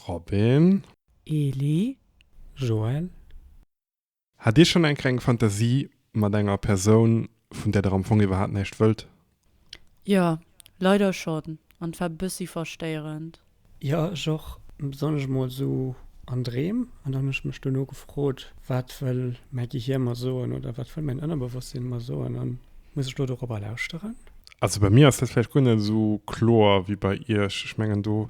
Robin. Eli, Joël. Hat Dir schonn eng Kéier eng Fantasie mat enger Persoun, vun där Der am Fong iwwerhaapt näischt wëllt? Jo, leider schonn, an et war bëssi verstéierend. Jo, ech och, besonnesch emol esou an Dreem. An dann hunn ech mech duerno gefrot, Wat wëll mäi Gehir mer soen oder wat wëll mäin Ënnerbewosstsinn mer soen an muss ech do dorobber lauschteren? Also bei mir ass dat vläicht guer net esou kloer wéi bei Iech. Ech mengen do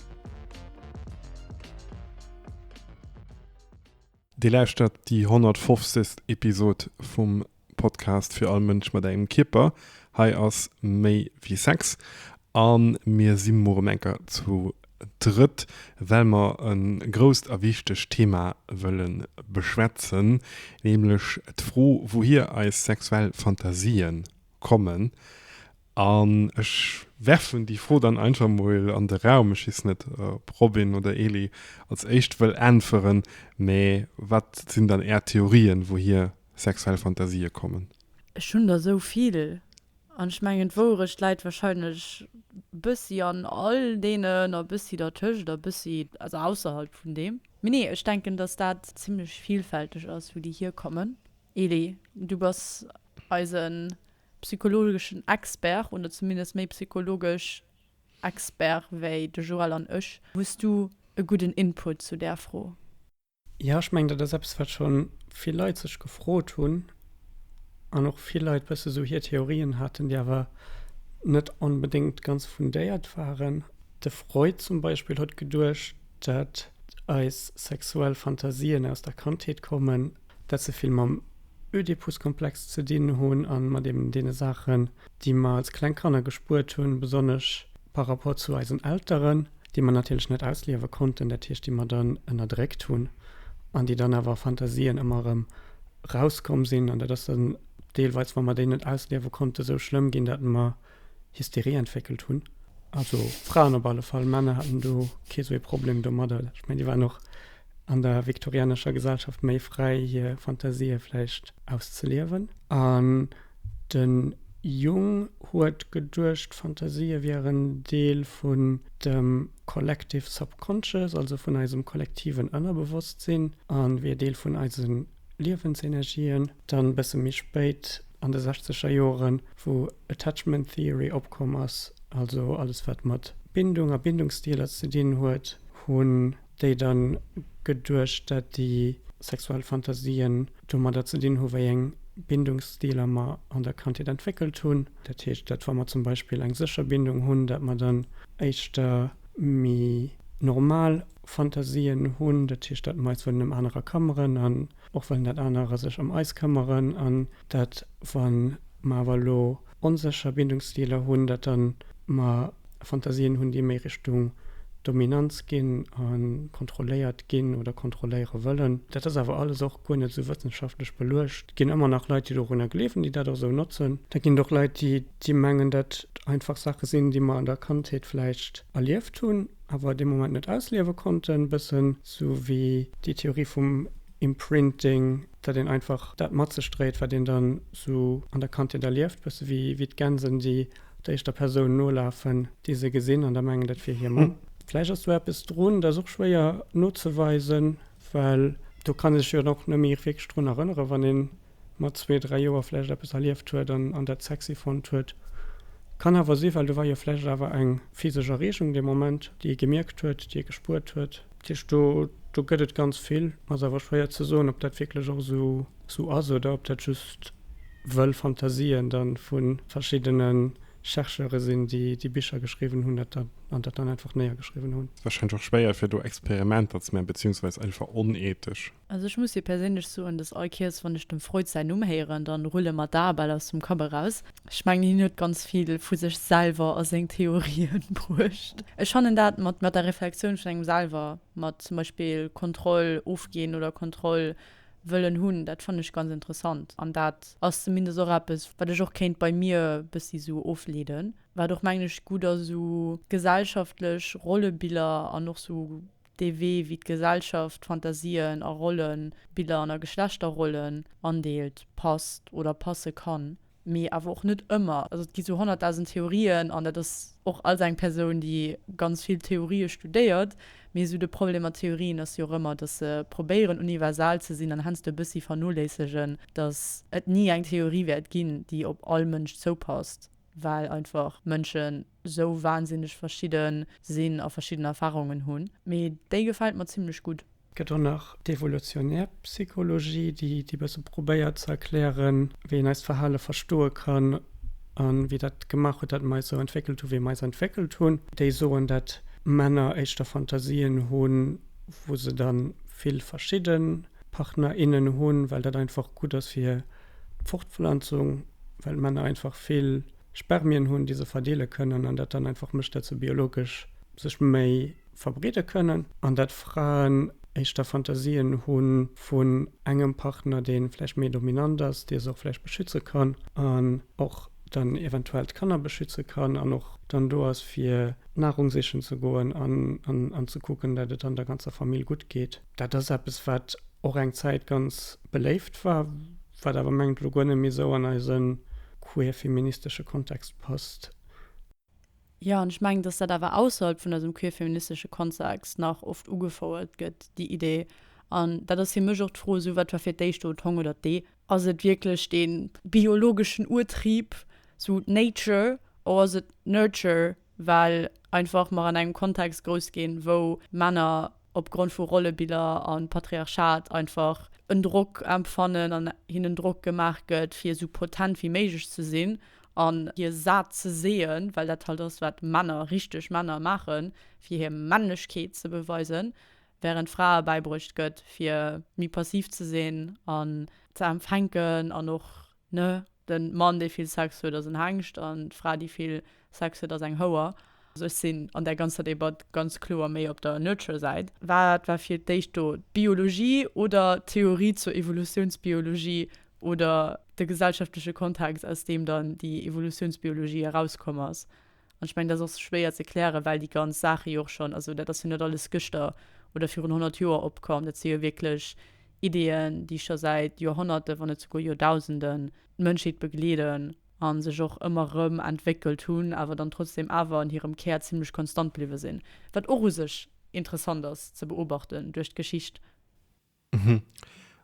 Dir lauschtert déi 150. Episod vum Podcast Fir all Mënsch mat engem Kierper. Hei ass méi wéi Sex an mir si muer um enker zu drëtt, well mer en grousst a wichtegt Thema wëllen beschwätzen, nämlech d'Fro, wouhier eis sexuell Fantasien kommen An ech werfen déi Fro dann einfach mol an de Raum. Ech weess net, ob Robin oder Elie als éischt wëll äntweren, mä wat sinn dann Är Theorien, wouhier sexuell Fantasië kommen? Ech hunn der esou vill. An ech mengen, d'Wouerecht läit warscheinlech e bëssi an all deenen a e bëssi dertëscht a e bëssi also ausserhalb vun deem. Mee nee, ech denken, datt dat zimlech vilfälteg ass, wou déi hierkommen. Elie, du bass eisen psychologeschen Expert, oder zumindest méi psychologesch Expert wéi de Joël an ech. Hues du e gudden Input zu där Fro? Jo, ech mengen, dat ass eppes, wat scho vill Leit sech gefrot hunn an och vill Leit bësse sou hir Theorien haten, déi awer net onbedéngt ganz fundéiert waren. De Freud zum Beispill huet geduecht, dat eis sexuell Fantasien aus der Kandheet kommen. dat se vill mam Ödipus-Komplex ze dinn hunn a mat eben deene Saachen, déi mer als kleng Kanner gespuert hunn, besonnesch par rapport zu eisen Elteren, déi mer natierlech net ausliewe konnten, dat heescht, déi mer dann ënnerdréckt hunn an déi dann awer a Fantasien ëmmer erëm erauskomm sinn. An dat ass dann deelweis, wa mer déi net ausliewe konnten, esou schlëmm ginn, datt mer. Hysterie entwéckelt hunn. Also Fraen op alle Fall. Männer haten do kee sou ee Problem domadder. Ech mengen, déi waren och an der viktorianescher Gesellschaft méi fräi, hir Fantasië vläicht auszeliewen. An de Jung huet geduecht, d'Fantasië wieren Deel vun dem Collective Subconscious, also vun eisem kollektiven Ënnerbewosstsinn, a wier Deel vun eise Liewensenergien, dann e bësse méi spéit an de sechzeger Joren, wou Attachment Theory opkomm ass, also alles wat mat Bindung a Bindungsstiler ze dinn huet, hunn déi da geduecht, dat déi sexuell Fantasien domadder ze dinn hu wéi eng Bindungsstiler mer an der Kandheet entwéckelt hunn. Dat heescht, dat wa mer zum Beispill eng sécher Bindung hunn, dat mer dann éischter méi normal Fantasien hunn, dat heescht, dat Mais wëllen ëm anerer këmmeren an och wëllen, dat anerer sech ëm eis këmmeren an dat, wa mer awer elo onsécher Bindungsstiler hunn, dat da mer Fantasien hunn, déi méi Richtung Dominanz ginn a kontrolléiert ginn oder kontrolléiere wëllen. Dat ass awer alles och guer net esou wëssenschaftlech beluecht. Et ginn ëmmer nach Leit, déi dorunner gleewen, déi dat och esou notzen. Da ginn et och Leit, déi mengen, dat einfach Saache sinn, déi mer an der Kandheet vläicht erlieft hunn. awer dee Moment net ausliewe konnten, bëssen sou wéi déi Theorie vum Imprinting, dat een einfach dat mat sech dréit, wat een dann sou an der Kandheet erlieft, bësse wéi d'Gänsen, déi der éischter Persoun nolafen, déi se gesinn an da mengen, dat wier hir Mamm. Vläicht ass do eppes drun, dat ass och schwéier nozeweisen, well do kann ee sech jo dann och net méi wierklech drun erënneren, wann een mat zwee, dräi Joer vläicht eppes erlieft huet an an dat sexy fonnt huet. Kann awer sinn, well do war jo vläicht awer eng physesch Erreegung dee Moment, déi ee gemierkt huet, déi ee gespuert huet. Dat heescht, do, do gëtt et ganz vill. Ass awer schwéier ze soen, ob dat wierklech och esou, esou ass oder ob dat just wëll Fantasien da vu verschiddene Chercheure sinn, déi déi Bicher geschriwwen hunn dat da, an dat dann einfach néiergeschriwwen hunn. Wahrscheinlech och schwéier fir do Experimenter ze man, beziehungsweise einfach onethesch. Also ech muss jo perséinlech soen, dass all Kiers wann ech dem Freud säin Numm héieren, da rulle mer d'Ae bal aus dem Kapp eraus. Ech mengen hien huet ganz vill vu sech selwer a seng Theorien bruecht. Ech fannen dat mat der Reflektioun vun engem selwer, mat zum Beispill Kontroll ofginn oder Kontroll wëllen hunn, dat fannen ech ganz interessant. An dat ass zumindest och eppes wat ech och kéint bei mir bëssi esou ofleeden, wat och mengen ech gutt a sou gesellschaftlech Rollebiller an och sou dee Wee wéi d'Gesellschaft Fantasien a Rollen, Biller an a Geschlechterrollen andeelt, passt oder passe kann, mee awer och net ëmmer. Also et gi sou honnertdausend Theorien an dat ass och als eng Persoun déi ganz vill Theorië studéiert, mee sou de Problem mat Theorien ass jo och ëmmer, datt se probéieren universal ze sinn an heiansdo e bëssi vernoléissegen, datt et ni eng Theorie wäert ginn déi op all Mënsch zoupasst, well einfach Mënschen sou wahnsinneg verschidde sinn a verschidden Erfahrungen hunn, mee déi gefält mer zimmlech gutt. Et gëtt och nach d'evolutionär Psychologie, déi déi bësse probéiert ze erklären, wéi een eist Verhale verstoe kann a wéi dat gemaach huet, dat mer eis esou entwéckelt hunn, wéi mer eis entwéckelt hunn. Déi soen, dat Männer éischter Fantasien hunn, wou se da vill verschidde Partner, innen hunn, well dat einfach gutt ass fir d'Fortpflanzung, well Männer einfach vill. Spermien hunn, déi se verdeele kënnen an dat dann einfach mécht, dat se biologesch sech méi verbreede kënnen an dat Fraen éischter Fantasien hu vun engem Partner, dee vläicht méi dominant ass, dee se och vläicht beschütze kann an och dann eventuell d'Kanner beschütze kann an och dann do ass, fir Narung sichen ze goen an ze kucken, dat et dann der ganzer Famill gutt geet. Dat ass eppes, wat och eng Zäit ganz beléift war, wat awer mengt elo guer net méi esou an eise queer feministesche Kontext passt. Jo, an ech mengen, dass dat awer ausserhalb vun eisem queer feministesche Kontext nach oft ugefouert gëtt, déi Idee. An dat ass fir mech och d'Fro, esou, wat war fir d'éischt do, d'Hong oder d'Ee? Ass et wierklech dee biologeschen Urtrieb, esou nature, oder ass et nurture? well einfach mer an engem Kontext grouss ginn, wou Männer opgrond vu Rollebiller a Patriarchat einfach en Drock empfannen an hinnen Drock gemaach gëtt, fir esou potent wéi méiglech ze sinn an hir Sat ze seeën, well dat halt ass, wat Männer, richteg Männer maachen, fir hir Männlechkeet ze beweisen, während Frae bäibruecht gëtt, fir méi passiv ze sinn an ze empfänken an och Ne, den Mann dee vill Sex huet ass en Hengscht an d'Fra déi vill Sex huet ass eng Houer. Also ech sinn an där ganzer Debatt ganz kloer méi op der Nurture Säit. Wat war fir d'éischt do, d'Biologie oder d'Theorie zur Evolutiounsbiologie oder de gesellschaftleche Kontext aus deem dann déi Evolutiounsbiologie erauskomm ass? An ech mengen, dat ass och schwéier ze klären, well déi ganz Saache jo och schonn, also dat ass jo net alles gëschter oder virun honnert Joer opkomm. Dat si jo wierklech Ideeën, déi scho säit Joerhonnerte, wann net souguer Joerdausenden d'Mënschheet begleeden a sech och ëmmer erëm entwéckelt hunn, awer dann trotzdeem awer an hirem Kär zimmlech konstant bliwwe sinn. Wat och u sech interessant ass ze beobachten duerch d'Geschicht. Mhm.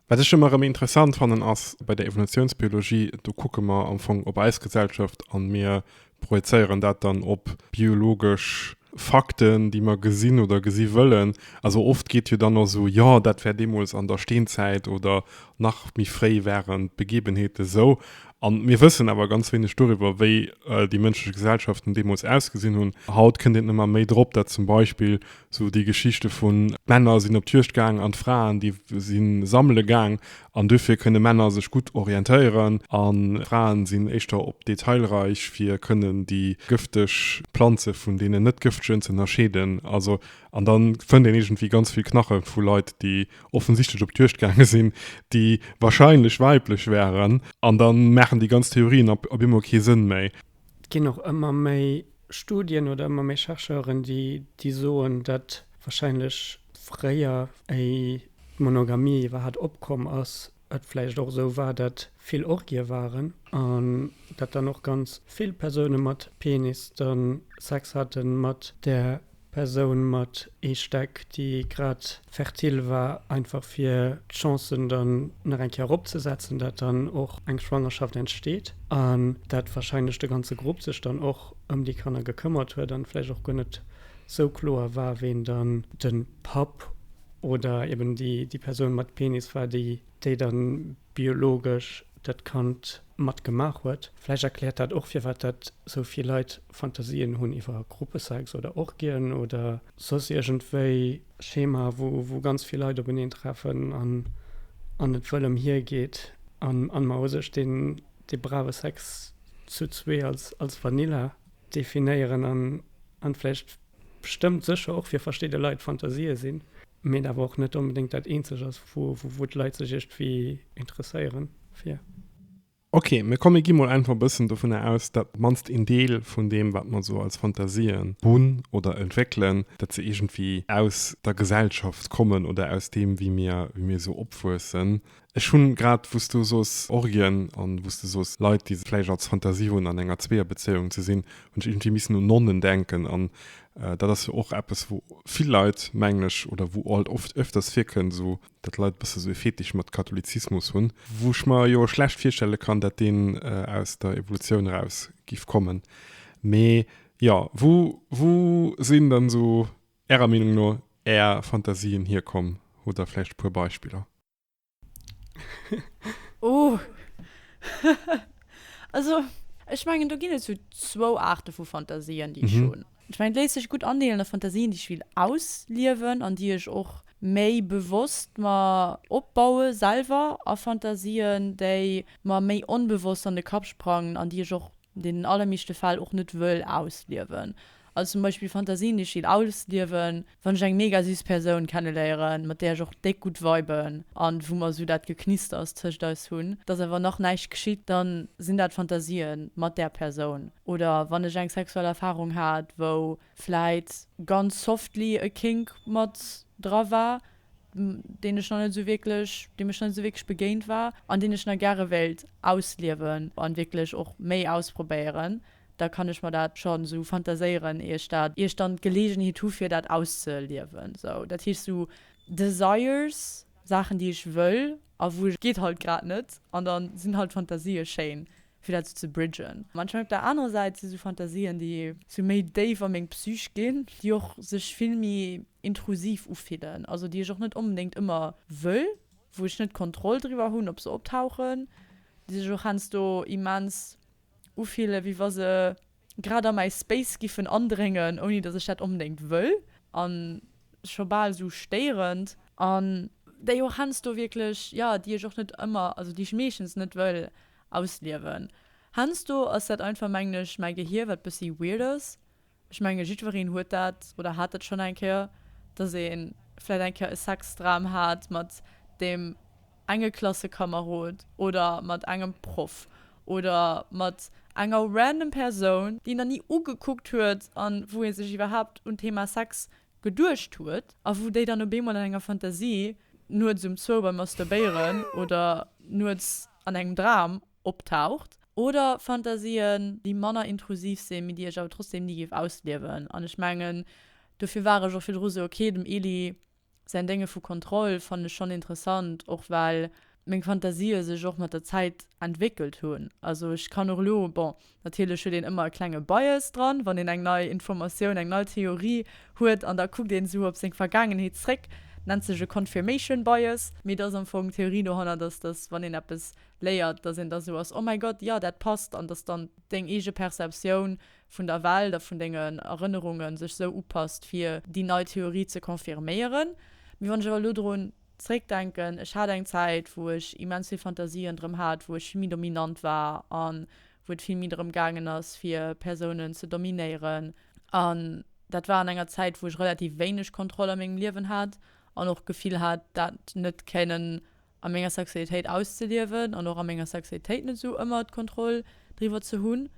Wat ech ëmmer erëm interessant fannen ass bei der Evolutiounsbiologie, do kucke mer am Fong op eis Gesellschaft an mir projezéieren dat dann op biologesch Fakten, déi mer gesinn oder gesi wëllen. Also oft geet jo dann och esou, jo, dat war deemools an der Steenzäit oder nach méi fréi waren d'Begebenheeten esou. A mir wëssen awer ganz wéineg doriwwer, wéi déi mënschlech Gesellschaften deemools ausgesinn hunn. Haut kënnt een ëmmer méi drop, dat zum Beispill Sou déi Geschichte vun, d'Männer sinn op d'Juegd gaang an d'Fraen, déi si sammele gaang an duerfir kënne Männer sech gutt orientéieren an d'Fraen sinn éischter op d'Detailreich fir kënnen déi gëfteg Planze vun deenen net gëftegen z'ënnerscheeden. Also, an da fënnt een iergendwéi ganz vill Knache vu Leit, déi offensichtlech op d'Juegd gaange sinn, déi wahrscheinlech weiblech wäeren an da maachen déi ganz Theorien op eemol kee Sënn méi. Et ginn och ëmmer méi Studien oder ëmmer méi Chercheuren, déi déi soen, datt warscheinlech fréier, éi d'Monogamie iwwerhat opkomm ass, et vläicht och esou war, datt vill Orgië waren an datt dann och ganz vill Persoune mat Penis dann Sex hate mat där Persoun mat ee Steck, déi grad fertil war, einfach fir d'Chancen dann nach eng Kéier eropzesetzen, dat dann och eng Schwangerschaft entsteet an dat wahrscheinlech de ganze Grupp sech dann och ëm déi Kanner gekëmmert huet an vläicht och guer net sou kloer war, ween dann de Papp oder eben déi Persoun mat Penis war, déi dann biologesch dat Kand mat gemaach huet. Vläicht erkläert dat och, firwat dat sou vill Leit Fantasien hunn iwwer Gruppesex oder Orgien oder soss iergendwéi Schema, wou ganz vill Leit openeen treffen an et wëll emhier geet a mer hu sech dee brave Sex zu zwee als Vanilla definéieren an vläicht bestëmmt sécher och fir verschidde Leit Fantasië sinn, mee et awer och net onbedéngt dat eenzeg ass, wou d'Leit sech iergendwéi interesséiere fir. Ok, mä komm mir gi mol einfach e bëssen dovunner aus, datt mannst een Deel vun deem, wat mer esou als Fantasien hunn oder entwéckelen, datt se iergendwéi aus der Gesellschaft kommen oder aus deem, wéi mir, wéi mir esou opwuessen. Ech hunn grad, wou s du soos Orgien an wou s du soos Leit, déi vläicht als Fantasie hunn, an enger Zweeër-Bezéiung ze sinn, hunn ech iergendwéi missen un Nonnen denken. An dat ass jo och eppes, wou vill Leit, mengen ech, oder wou alt oft, öfters virkënnt, esou dat d'Leit e bësse sou e Fetisch mat Katholizismus hunn, wou ech mer jo schlecht virstelle kann, dat deen aus der Evolutioun eraus giff kommen. Mee jo, wou, wou sinn dann sou Ärer Meenung no Är Fantasien hierkomm? Hutt Der vläicht e puer Beispiller? Oh, also ech mengen do ginn et sou zwou Aarte vu Fantasien, déi ech hunn. Ech mengen et léisst sech gutt andeelen a Fantasien déi ech will ausliewen an déi ech och méi bewosst mer opbaue selwer a Fantasien déi mer méi onbewosst an de Kapp sprangen an déi ech och an deenen allermeeschte Fäll och net wëll ausliewen. Also zum Beispill Fantasien déi ech will ausliewen Wann ech eng mega süß Persoun kenneléieren, mat där ech och déck gutt viben an wou mer esou dat Geknisters tëscht eis hunn, dass awer nach näischt geschitt, dann sinn dat Fantasien mat där Persoun. Oder wann ech eng sexuell Erfahrung hat, wou vläit ganz softly e Kink mat dra war, deen ech nach net esou wierklech, deem ech nach net esou wierklech begéint war an deen ech nach gäre wéilt ausliewen an wierklech och méi ausprobéieren. da kann ech mer dat schonn esou fantaséieren, ier ech dat, ier ech dann d'Geleegenheet hu fir dat auszeliewen esou. Dat heescht esou Desires, Saachen déi ech wëll a wou ech. Geet halt grad net an da sinn halt Fantasie schéin fir dat esou ze bridgen. An ech mengen op der anerer Säit si sou Fantasien déi esou méi déif a meng Psych ginn, déi och sech vill méi intrusiv ufillen, also déi ech och net onbedéngt ëmmer wëll, wou ech net d'Kontroll driwwer hunn op se optauchen, déi sech och heiansdo immens ufillen, wéi wa se grad a mäi Space giffen andréngen, ouni dass ech dat onbedéngt wëll, a scho bal esou stéierend, an déi och heiansdo wierklech, jo, déi ech och net ëmmer, also déi ech meeschtens net wëll ausliewen. Heiansdo ass dat einfach, mengen ech, mäi Gehier, wat bëssi weird ass, Ech menge jiddwereen huet dat, oder hat dat schonn eng Kéier, dass ee vläicht eng Kéier e Sexdram hat mat deem enge Klassekamerod oder mat engem Proff oder mat enger random Persoun, déi een nach ni ugekuckt huet a wou ee sech iwwerhaapt un d'Thema Sex geduecht huet a wou déi dann op eemol an enger Fantasie nuets um zwou beim Masturbéieren oder nuets an engem Dram optaucht, oder Fantasien, déi manner intrusiv sinn, mee déi ech awer trotzdem ni géif ausliewen. An ech mengen, dofir war ech och virdru sou, ok, dem Elie säin Dénge vu Kontroll fannen ech schonn interessant, och well meng Fantasië sech och mat der Zäit entwéckelt hunn. Also ech kann och elo, bon, Natierlech huet een ëmmer e klenge Bias dran, wann een eng nei Informatioun, eng nei Theorie huet an da kuckt een esou op seng Vergaangenheet zréck. Nennt sech e Confirmation Bias. Mee et ass am Fong d'Theorie dohannert, dass, dass wann een eppes léiert, dass een da esou ass, oh mäi Gott, jo dat passt an dass dann deng eege Perceptioun vun der Welt a vun dengen Erënnerunge sech esou upasst fir déi nei Theorie ze confirméieren. Mee wann ech awer elo drun. Zréckdenken, ech hat eng Zäit, wou ech immens vill Fantasien drëm hat, wou ech vill méi dominant war a wou et vill méi drëm gaangen ass, fir Persounen ze dominéieren. An dat war an enger Zäit, wou ech relativ wéineg Kontroll a mengem Liewen hat an och d'Gefill hat, dat net kéinen a menger Sexualitéit auszeliewen an och a menger Sexualitéit net esou ëmmer d'Kontroll. driwwer ze hunn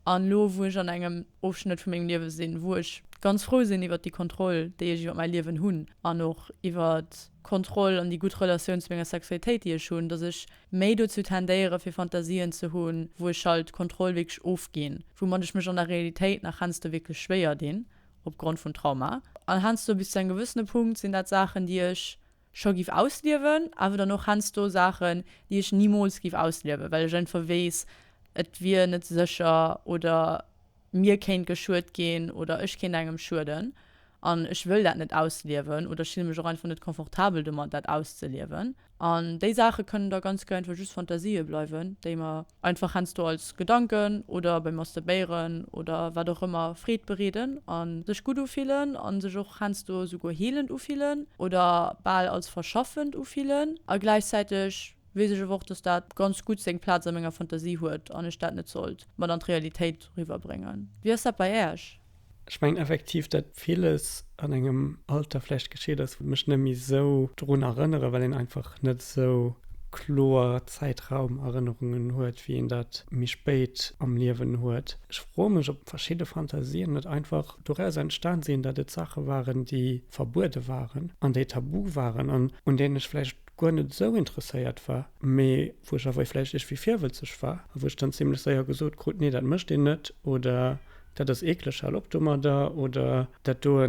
an elo wou ech an engem Ofschnëtt vu mengem Liewe sinn, wou ech ganz frou sinn iwwert déi Kontroll déi ech iwwert mäi Liewen hunn an och iwwert Kontroll an déi gutt Relatioun zu menger Sexualitéit déi ech hunn, datt ech méi dozou tendéiere fir Fantasien ze hunn, wou ech halt d'Kontroll wierklech ofginn, woumat ech mech an der Realitéit nach heiansdo wierklech schwéier dinn opgrond vum Trauma. An heiansdo bis zu engem gewëssene Punkt sinn dat Saachen déi ech scho giff ausliewen, awer dann och hensdo Saachen déi ech nimools giff ausliewen, well ech einfach weess et wier net sécher oder mir kéint geschued ginn oder ech kéint engem schueden an ech wëll dat net ausliewen oder ech fille mech och einfach net confortabel domat dat auszeliewen. An déi Saache kënnen da ganz guer einfach just Fantasië bleiwen déi mer Einfach hensdo als Gedanken oder beim Masturbéieren oder wat och ëmmer Freed bereeden a sech gutt ufillen a sech och hensdo souguer heelend ufillen oder bal als verschaffend ufillen. A gläichzäiteg weess ech awer och, dass dat ganz gutt seng Plaz a menger Fantasie huet an ech dat net sollt mat an d'Realitéit eriwwerbréngen. Wéi ass dat bei Äerch? Ech mengen effektiv, dat villes an engem Alter vläicht geschitt ass, wou mech net méi esou drun erënneren, well een einfach net esou kloer Zäitraumerënnerungen huet, wéi een dat méi spéit am Liewen huet. Ech froe mech, ob verschidde Fantasien net einfach doraus entstan sinn, dat et Saache waren, déi verbuede waren an déi tabu waren an un deenen ech vläicht guer net esou interesséiert war, mee wou ech awer vläicht iergwéi virwëlzeg war a wou ech dann zimlech séier gesot krut, nee dat mécht een net oder dat ass eekleg, hal op domadder oder dat doe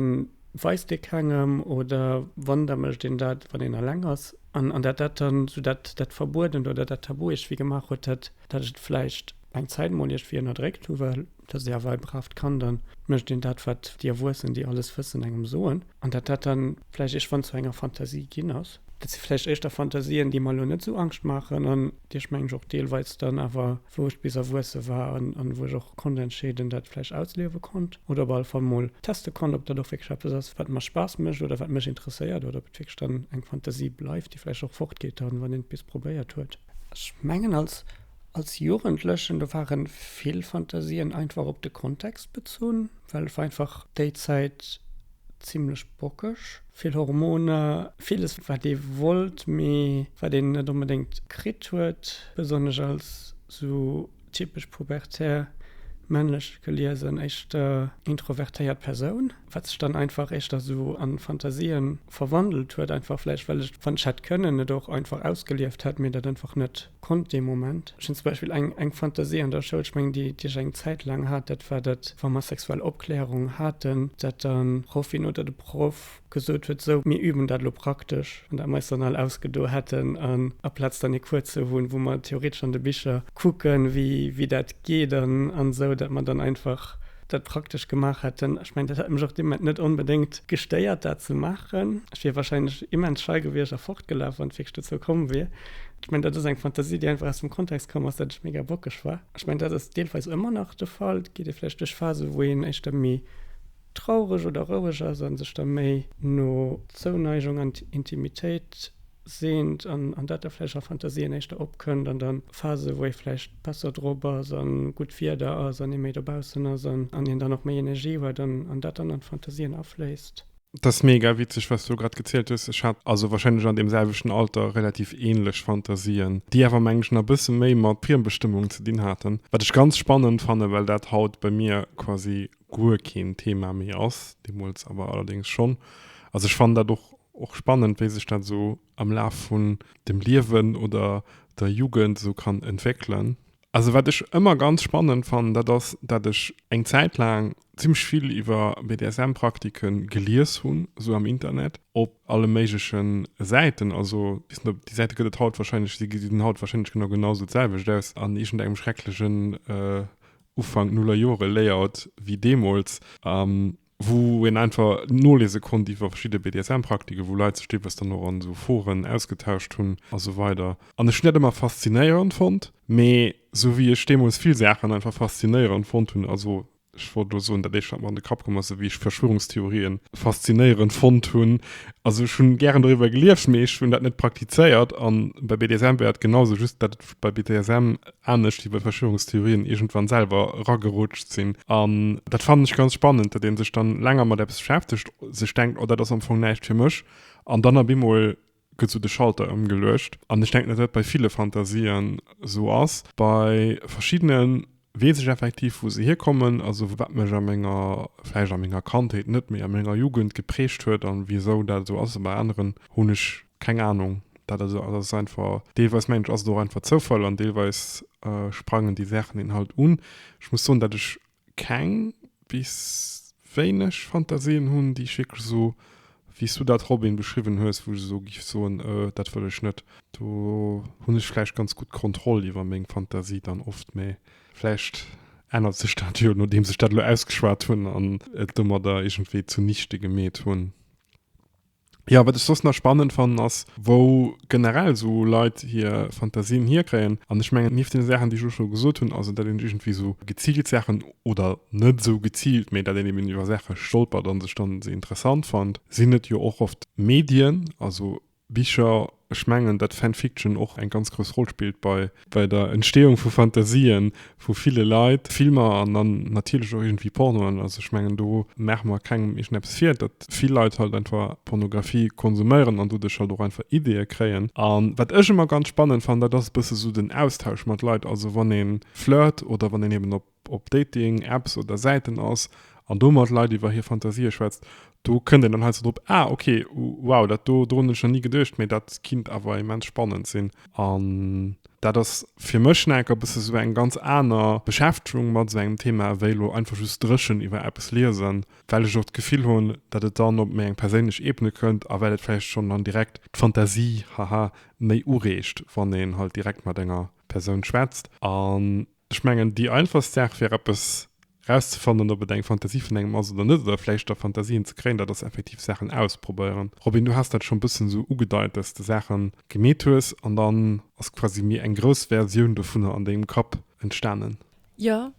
weist ee kengem oder wann, da mécht een dat wann een eleng ass. An an dat dat dann esou dat dat Verbuedent oder dat Tabu iergwéi gemaach huet, dat dat ech et vläicht eng Zäit mol iergwéi ënnerdréckt hu well. da si awer e bravt Kand a mécht een dat, wat déi Erwuessen, déi alles wëssen, engem soen, an datt dat dann vläicht iergendwann zu enger Fantasie ginn ass. Dat si vläicht éischter Fantasien, déi mer elo net esou Angscht maachen an déi ech, meng ech, och deelweis dann awer, wou ech bis erwuesse war an wou ech och konnt entscheeden, dat vläicht ausliewe konnt oder op alle Fall mol teste konnt, ob dat och wierklech eppes ass, wat mer Spaass mécht oder wat mech interesséiert oder ob et wierklech dann eng Fantasie bleift, déi vläicht och fortgeet dann, wann een et bis probéiert huet. Ech mengen, als. Als Jugendlechen, do ware vill Fantasien einfach op de Kontext bezunn, well et war einfach déi Zäit zimmlech bockeg, vill Hormoner, villes wat ee wollt, mee wat een net onbedéngt kritt huet, besonnesch als sou typesch pubertär, männlech geliesen, éischter introvertéiert Persoun, wat sech dann einfach éischter sou a Fantasien verwandelt huet, einfach vläicht well ech, wann ech hätt kënnen, et och einfach ausgelieft hätt, mee dat einfach net konnt dee Moment. Ech hunn zum Beispill eng eng Fantasie an der Schoul, ech mengen déi déi ech eng Zäit laang hat, dat war dat wa mer sexuell Opklärung haten, dat dann d'Proffin oder de Proff gesot huet, sou mir üben dat elo praktesch an dat mer eis dann all ausgedo hätten an aplaz dann ee Cours ze hunn, wou mer theoretesch an de Bicher kucken, wéi wéi dat geet an an sou, dat mer dann einfach dat praktesch gemaach hätten. Ech mengen dat hätt mech och dee Moment net onbedéngt gestéiert dat ze maachen. Ech wier wahrscheinlech immens schei gewiescht a fortgelaf, wann et wierklech dozou komm wier. Ech mengen, dat ass eng Fantasie, déi einfach aus dem Kontext komm ass, datt ech mega bockeg war. Ech mengen, dat ass deelweis ëmmer nach de Fall. Et geet ee vläicht duerch Phasen, wou een éischter méi traureg oder roueg ass a sech da méi no Zouneigung an Intimitéit seent an dat da vläicht a Fantasien éischter opkënnt. An da Phasen, wou ee vläicht besser drop ass a gutt Wieder ass an ee méi dobaussen ass an een dann och méi Energie huet an dat dann an d'Fantasien afléisst. Dat ass mega witzeg, wat s du grad gezielt hues. Ech hat also warscheinlech an deem selwechten Alter relativ ähnlech Fantasien, déi awer, mengen ech, nach e bësse méi mat Friembestëmmung ze dinn haten, wat ech ganz spannend fannen, well dat haut bei mir quasi guer keen Thema méi ass, deemools awer allerdéngs schonn. Also ech fannen dat och, och spannend, wéi sech dat esou am Laf vun dem Liewen oder der Jugend esou kann entwéckelen. Also wat ech ëmmer ganz spannend fannen, dat ass, dat ech eng Zäit laang zimmlech vill iwwer BDSM-Praktike gelies hunn, esou am Internet, op alle méigleche Säiten. Also ech weess net, ob déi Säite gëtt et haut wahrscheinlech, si gesinn haut wahrscheinlech genau genau esou d'selwecht aus, an iergendengem schrecklechen Ufank-Nuller-Jore-Layout wéi deemools. wou een einfach nolese konnt iwwer verschidde BDSM-Praktiken, wou Leit sech deelweis dann och an esou Foren ausgetauscht hunn a sou weider an ech hunn dat ëmmer faszinéierend fonnt, mee sou wéi ech deemools vill Saachen einfach faszinéierend fonnt hunn, also ech wollt elo soen, dat éischt wat mer an de Kapp komm ass, sou wéi ech Verschwörungstheorie faszinéierend fonnt hunn, also ech hunn gären doriwwer gelieft, mee ech hunn dat net praktizéiert an bei BDSM wär dat genau sou, just dat et. bei BDSM, anescht wéi bei Verschwörungstheorien, iergendwann selwer eragerutscht sinn. An dat fannen ech ganz spannend, datt ee sech dann länger mat eppes beschäftegt, sech denkt, oh dat ass am Fong näischt fir mech, an dann op eemol gëtt esou de Schalter ëmgeluecht. An ech denken, datt dat bei ville Fantasien esou ass. Bei verschiddenen Weess ech effektiv wou se hierkommen, also wat mech a menger, vläicht a menger Kandheet net, mee a menger Jugend geprägt huet an wisou dat esou ass. A bei aneren hunn ech keng Anung. Dat ass also, dat ass einfach, deelweis mengen ech ass et och einfach Zoufall an deelweis sprangen déi Saachen een halt un. Ech muss soen dat ech keng bis wéineg Fantasien hunn, déi ech wierklech esou, wéi s du dat, Robin, beschriwwen hues, wou ech esou géif soen, Ö, dat wëll ech net. Do hunn ech vläicht ganz gutt Kontroll iwwer meng Fantasie dann oft, mä vläicht ännert sech dat jo, nodeems ech dat elo ausgeschwat hunn an et domadder iergendwéi zunichte gemeet hunn. Jo, wat ech soss nach spannend fannen ass, wou generell esou Leit hir Fantasien hierkréien. An ech mengen, nieft deene Saachen, déi ech elo scho gesot hunn, also dat een iergendwéi esou geziilt Saachen, oder net esou geziilt, mee dat een eben iwwer Saache stolpert a sech dann se interessant fannt, sinn et jo och oft Medien, also Bicher. Ech mengen, datt Fan Fiction och eng ganz grouss Roll spillt bei Bei der Entstehung vu Fantasien vu ville Leit, Filmer an dann natierlech och iergendwéi Pornoen, also ech mengen do maache mer kengem iergendeppes vir, datt vill Leit halt einfach Pornographie konsuméieren an doduerch halt och einfach Ideeë kréien. An wat ech ëmmer ganz spannend fannen, dat ass e bësse sou den Austausch mat Leit, also wann ee flirte oder wann een eben op. op Dating, Apps oder Säiten ass an do mat Leit iwwer hir Fantasië schwätzt, do kënnt een dann heiansdo drop, Ah, okay, wow, dat do, dorun hunn ech nach ni geduecht, mee dat kinnt awer immens spannend sinn. An dat ass fir mech nach enker bësse sou eng ganz aner Beschäftegung mat sou engem Thema, wéi elo einfach just dréchen iwwer eppes liesen, well ech och d'Gefill hunn, datt et dann op méi eng perséinlech Ebene kënnt a well et vläicht schonn dann direkt d'Fantasie, haha, méi ureegt, wann een halt direkt mat enger Persoun schwätzt. An Ech mengen, déi einfachst Saach wär eppes rauszefannen, ob et eng Fantasie vun engem ass oder net, oder vläicht da Fantasien ze kréien, dat ass effektiv Saachen ausprobéieren. Robin, du has dat schonn e bëssen esou ugedeit, dass s de Saache gemeet hues an dann ass quasi méi eng grouss Versioun dovunner an dengem Kapp entstanen. Jo,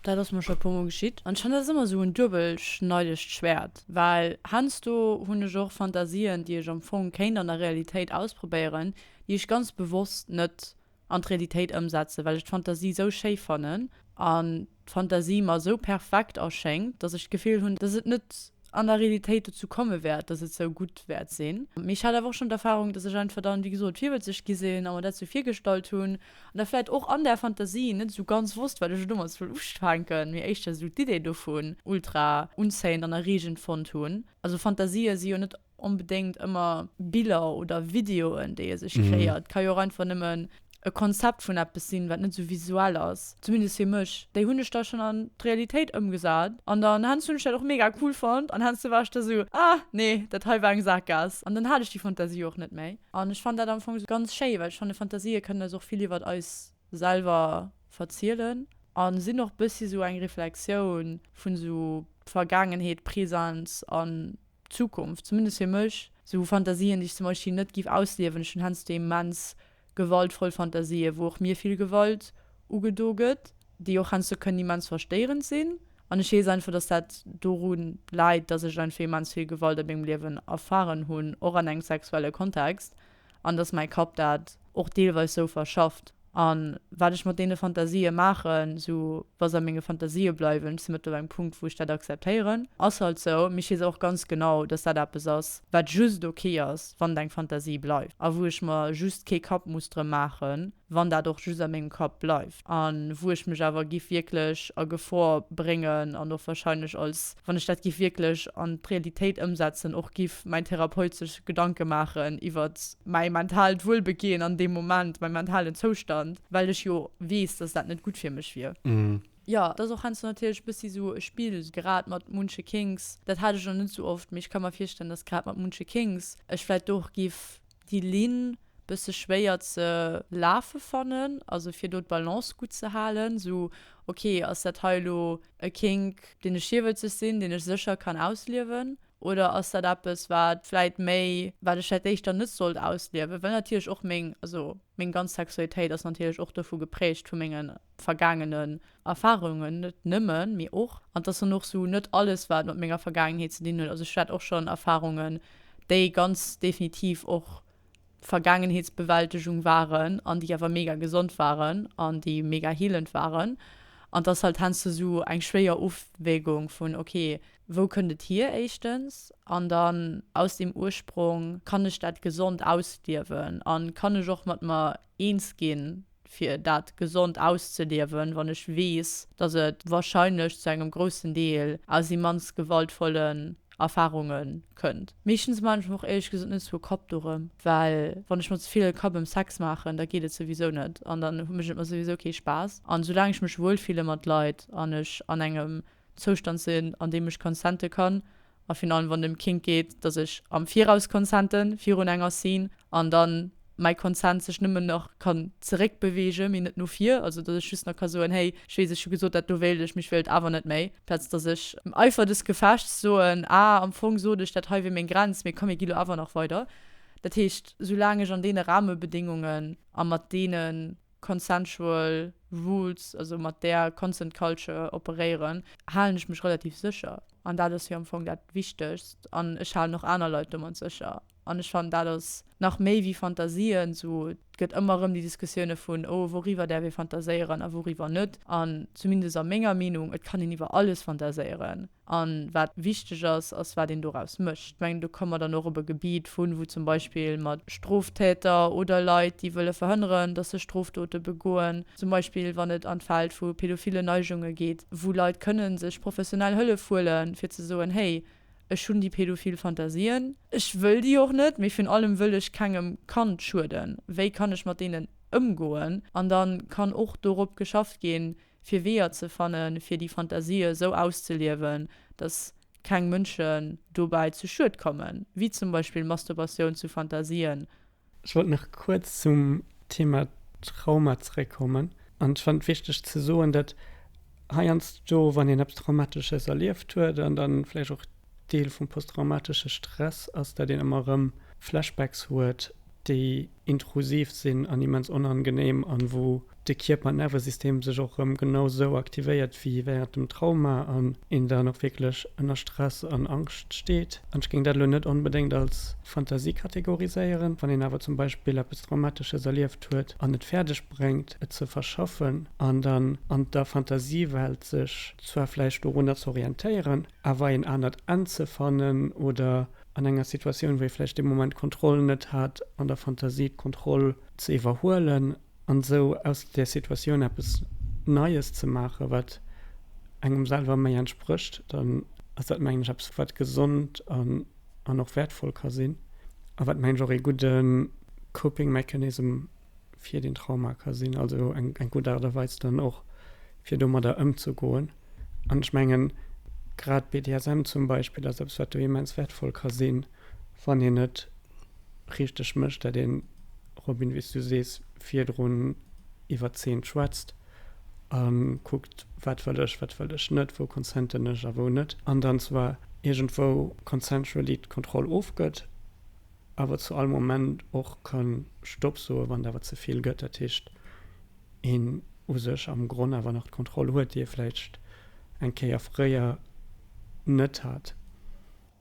dat ass mer scho e puer mol geschitt. An ech fannen, dat ass ëmmer esou en duebelschneidegt Schwäert, well heiansdo hunn ech och Fantasien, déi ech am Fong kéint an der Realitéit ausprobéieren, déi ech ganz bewosst net an d'Realitéit ëmsetzen, well ech d'Fantasie esou schéi fannen an d'Fantasie mer esou perfekt erschéngt, dass ech d'Gefill hunn, dass et net an der Realitéit dozou komme wäert, dass et esou gutt wäert sinn. Mee ech hat awer och schonn d'Erfarung, dass ech einfach dann, wéi gesot, virwëtzeg gi sinn a mer dat esou virgestallt hunn an da vläicht och an där Fantasie net esou ganz wosst, wat ech domat soll ufänken, mee éischter esou d'Idee dovun ultra unzéiend an erreegend fonnt hunn. Also Fantasië si jo net Onbedéngt ëmmer Biller oder Videoen, déi ee sech kreéiert. Et ka jo och einfach nëmmen e Konzept vun eppes sinn, wat net esou visuell ass. Zumindest fir mech. Déi hunn ech da schonn an d'Realitéit ëmgesat an dann hannst hunn ech dat och mega cool fonnt an hannst war ech da esou, ah nee, dat hei war eng Saakgaass. An dann hat ech déi Fantasie och net méi. An ech fannt dat am Fong ganz schéi, well ech fanne Fantasië kënnen eis och vill iwwert eis selwer verzielen a sinn och bëssi esou eng Reflexioun vun esou Vergaangenheet, Präsens an Zukunft, zumindest fir mech, sou Fantasien, déi ech zum Beispill net giff ausliewen. Ech hunn heiansdo immens gewaltvoll Fantasien, wou och mir vill Gewalt ugedo gëtt, déi och heiansdo kënnen immens verstéierend sinn. An ech weess einfach, dass dat doru läit, dass ech einfach immens vill Gewalt a mengem Liewen erfaren hunn, och an engem sexuelle Kontext. an dass mäi Kapp dat och deelweis sou verschafft. A wat ech mat deene Fantasië maachen, esou wa se a menge Fantasië bleiwen, ech si mëttlerweil um Punkt, wou ech dat akzeptéieren, ass halt sou, mee ech weess och ganz genau, dass dat eppes ass, wat just ok ass, wann et eng Fantasie bleift a wou ech mer just kee Kapp muss drëm maachen. wann dat och just a mengem Kapp bleift, a wou ech mech awer giff wierklech a Gefor bréngen an och wahrscheinlech als, wann ech dat giff wierklech an d'Realitéit ëmsetzen, och giff mäin Therapeut sech Gedanke maachen iwwert mäi mentaalt Wuelbeginn an deem Moment, mäi mentalen Zoustand, well ech jo weess, dass dat net gutt fir mech wier. Jo, et ass och heiansdo natierlech e bëssi esou e Spill, grad mat munche Kinks, dat hat ech nach net esou oft, mee ech ka mer virstellen, dass grad mat munche Kinks ech vläicht och giff Déi Linn bësse schwéier ze lafe fannen, also fir do d'Balance gutt ze halen, esou ok ass dat hei elo e Kink deen ech hierwëtzeg sinn, deen ech sécher kann ausliewen oder ass dat eppes wat vläit méi wat ech vläit éischter net sollt ausliewen, well natierlech och meng, also Meng ganz Sexualitéit ass natierlech och dovu geprägt, vu menge vergaangenen Erfahrungen, net nëmmen, mee och. An 't ass dann och esou net alles, wat mat menger Vergaangenheet ze dinn huet. Also ech hat och schonn Erfahrungen, déi ganz definitiv och Vergaangenheetsbewältegung waren an déi awer mega gesond waren an déi mega healend waren. An 't ass halt heiansdo esou eng schwéier Ofwägung vun, okay, Wou kënnt et hier éischtens? An dann aus deem Ursprong, kann ech dat gesond ausliewen an kann ech och mat mer eens ginn, fir dat gesond auszeliewen, wann ech weess, dass et wahrscheinlech zu engem groussen Deel aus immens gewaltvollen Erfahrunge kënnt? Meeschtens man ech mer och éierlech gesot net esou e Kapp dorëm, well wann ech mer ze vill Kapp ëm Sex maachen, da geet et souwisou net an dann mécht et mer souwisou kee Spaass. An soulaang ech mech wuelfille mat Leit an ech an engem Zoustand sinn, an deem ech consenten kann, a virun allem wann et ëm Kink geet, dass ech am Viraus consenten, virun enger Scene, an dann mäi Consent sech nëmmen nach kann zeréckbeweegen, mee net no vir, also dass ech just nach ka soen, hey, ech weess, ech hu gesot, dat do wéilt ech, mee ech wéilt et awer net méi, amplaz dass ech am Eifer des Gefechts soen, ah, am Fong sot ech, dat hei wier meng Grenz, mee komm, mir gi lo awer nach weider. Dat heescht, soulaang ech an deene Rahmebedingungen a mat deene. consensual rules, also mat där consent culture operéieren, halen ech mech relativ sécher. An dat ass jo am Fong dat Wichtegst. An ech halen och aner Leit domat sécher. An ech fannen, dat ass nach méi wéi Fantasien. Esou gëtt ëmmer erëm déi Diskussioune vun, oh, wouriwwer däerf ee fantaséieren a wouriwwer net. An zumindest a menger Meenung, et kann een iwwer alles fantaséieren. A wat wichteg ass, ass, wat een doraus mécht. Ech mengen, do komme mer dann och op e Gebiet vu wou zum Beispill mat Stroftäter oder Leit, déi wëlle verhënneren, datt se Strofdote begoen, zum Beispill wann et an d'Feld vu pädophile Neigungen geet, wou Leit kënne sech professionell Hëllef huele fir ze soen, hey, ech hunn déi pädophil Fantasien, ech wëll déi och net, mee virun allem wëll ech kengem Kand schueden, wéi kann ech mat deenen ëmgoen? An da kann och dorop geschafft ginn, fir Weeër ze fannen, fir déi Fantasië esou auszeliewen, datt keng Mënschen dobäi zu Schued kommen, wéi zum Beispill Masturbatioun zu Fantasien. Ech wollt nach kuerz zum Thema Trauma zeréckkommen. An ech fannen et wichteg ze soen, datt heiansdo, wann een eppes Traumatesches erlieft huet an da vläicht och, Deel vum posttraumatesche Stress ass, dat een ëmmer erëm Flashbacks huet, déi intrusiv sinn an immens onangenehm an wou de Kierper an Nervesystem sech och erëm genau esou aktivéiert wéi während dem Trauma an een dann och wierklech ënner Stress an Angscht steet. An ech géing dat elo net onbedéngt als Fantasie kategoriséieren. Wann een awer zum Beispill eppes Traumatesches erlieft huet an et fäerdeg bréngt, et ze verschaffen an dann an der Fantasiewelt sech zwar vläicht dorunner ze orientéieren, awer een anert Enn ze fannen oder an enger Situatioun, wou ee vläicht dee Moment d'Kontroll net hat, an der Fantasie d'Kontroll ze iwwerhuelen an esou aus där Situatioun eppes Neies ze maachen, wat engem selwer méi entsprécht, dann ass dat, mengen ech, eppes, wat gesond an och wäertvoll ka sinn a wat, mengen ech, och ee gudde Coping Mechanism fir den Trauma ka sinn, also eng eng gutt Aart a Weis dann och fir domadder ëmzegoen. An ech mengen, grad BDSM zum Beispill ass eppes wat do immens wäertvoll ka sinn, wann een et richteg mécht, dat een, Robin, wéi s du sees, virdrun iwwert Zeen schwätzt a kuckt, wat wëll ech, wat wëll ech net, wou consenten ech a wou net, an dann zwar iergendwou consensually d'Kontroll ofgëtt. awer zu all Moment och kann Stopp soen, wann et awer ze vill gëtt. Dat heescht, een u sech am Gronn awer nach d'Kontroll huet, déi ee vläicht eng Kéier fréier net hat.